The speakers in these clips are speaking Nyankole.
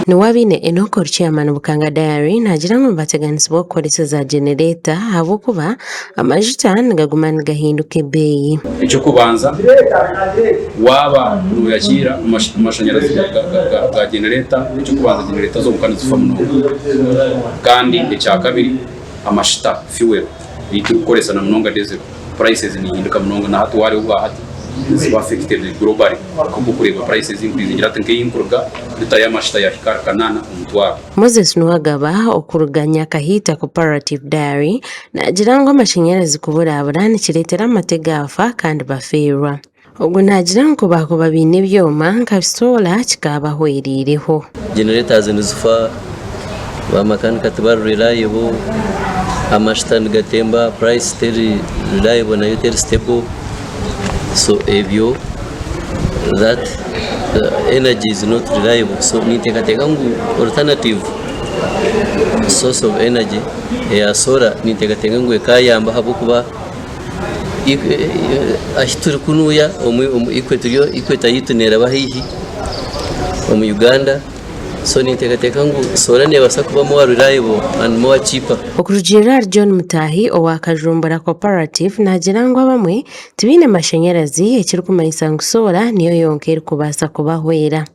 Niwe abaine Enokor Chairman Bukanga Diary naagira ngu nibateganisibwa kukoresa za genereeta ahabw'okuba amajuta nigaguma nigahinduka ebeeyi. Eky'okubanza waaba nooyakiira amashanyarazi ga genereeta, eky'okubanza genereeta zonka nizifa munonga. Kandi ekyakabiri amashuta, fuel, ei turikukoresa na munonga dizero. Prices nihinduka munonga na hati wareeba obwa hati ziba affected globally kwonka oku orikureeba prices nkwizigira hati nk'eyi nkuruga lita y'amashuta yahika ahari kanaana omutwaro. Moses Nuwagaba okuruga Nyakahiita Cooperative Dairy naagira ngu amashanyarazi kuburabura nikireetera amate gaafa kandi bafiirwa. Ogu naagira ngu baakuba baine ebyoma nka bisoola kikaabahwereireho. Generators nizifa, ba makanika tibari reliable, amashuta nigatemba, price teri reliable nayo teri stable so ebyo that energy is not reliable so ninteekateeka ngu alternative source of energy eya solar ninteekateeka ngu ekaayamba ahabw'okuba ahi turikunuya equator yaitu neraba haihi omu Uganda so ninteekateeka ngu soora neebaasa kuba more reliable and more cheaper. Okurugiirira ahari John Mutahi owa Kajumbura Cooperative naagira ngu abamwe tibaine mashanyarazi ekirikumanyisa ngu soora niyo yonka erikubaasa kubahwera.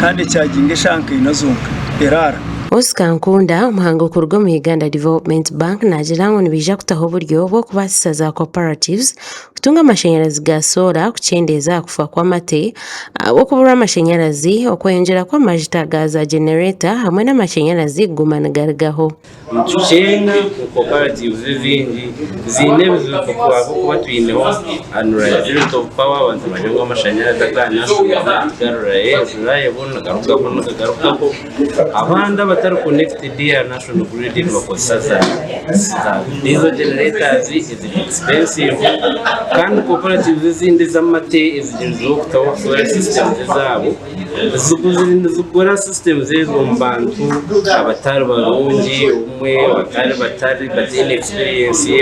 kandi echaginga eshaaha nka ina zonka eraara. Oscar Nkunda, omuhanga okuruga omu Uganda Development Bank naagira ngu nibaija kutaho oburyo bw'okubaasisa za cooperatives kutunga amashanyarazi ga soora kukyendeeza aha kufa kw'amate ahabw'okuburwa amashanyarazi, okweyongyera kw'amajuta ga za genereeta hamwe n'amashanyarazi kuguma nigarugaho. Nitukyeenda ku cooperatives ezindi ziine ebizibu ahabw'okuba twineho unreliability of power, abantu bari ngu amashanyarazi agaanashuba nitugarurayo ebibayeho nigarugaho nigagarukaho, abandi abatari connected aha national grid nibakozesa za diesel generators eziri expensive kandi cooperatives ezindi ez'amate ezigiriizeho kutaho solar systems zaabo Nizigura system ezo omu bantu abatari barungi obumwe batari bataine experience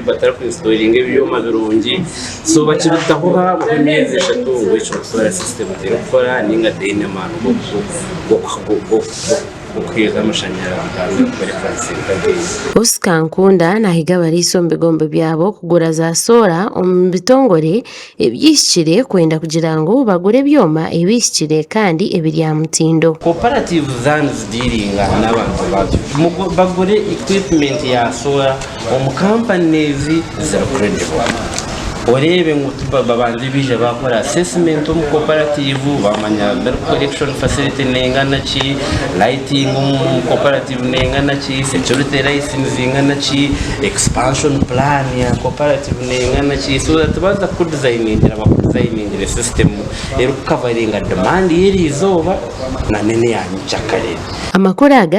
batari ku insitoringa ebyoma birungi so bakirutaho haabaho emyezi eshatu ngu ekirikutoora system terikukora ninga teine amaani g'okuheereza amashanyarazi Oscar Nkunda nahiga abariisa omu bigombe byabo kugura za soora omu bitongore ebyihikire kwenda kugira ngu bagure ebyoma ebihikire kandi ebiri aha mutindo. Koparatiivu za nizidiiringa n'abantu bazo ngu bagure equipment ya soora omu kampani ezi eziri credible. Oreebe ngu babanze baije baakora assessment omu koparatiivu baamanya milk collection facility neengana ki, lighting omu koparatiivu. Nengana ki? Security rights nizingana ki? Expansion plan ya cooperative nengana ki? So that baza kuku designingira baku designingire system eri ku coveringa demand yeri izooba na nana eya nyikyakare. Amakuru aga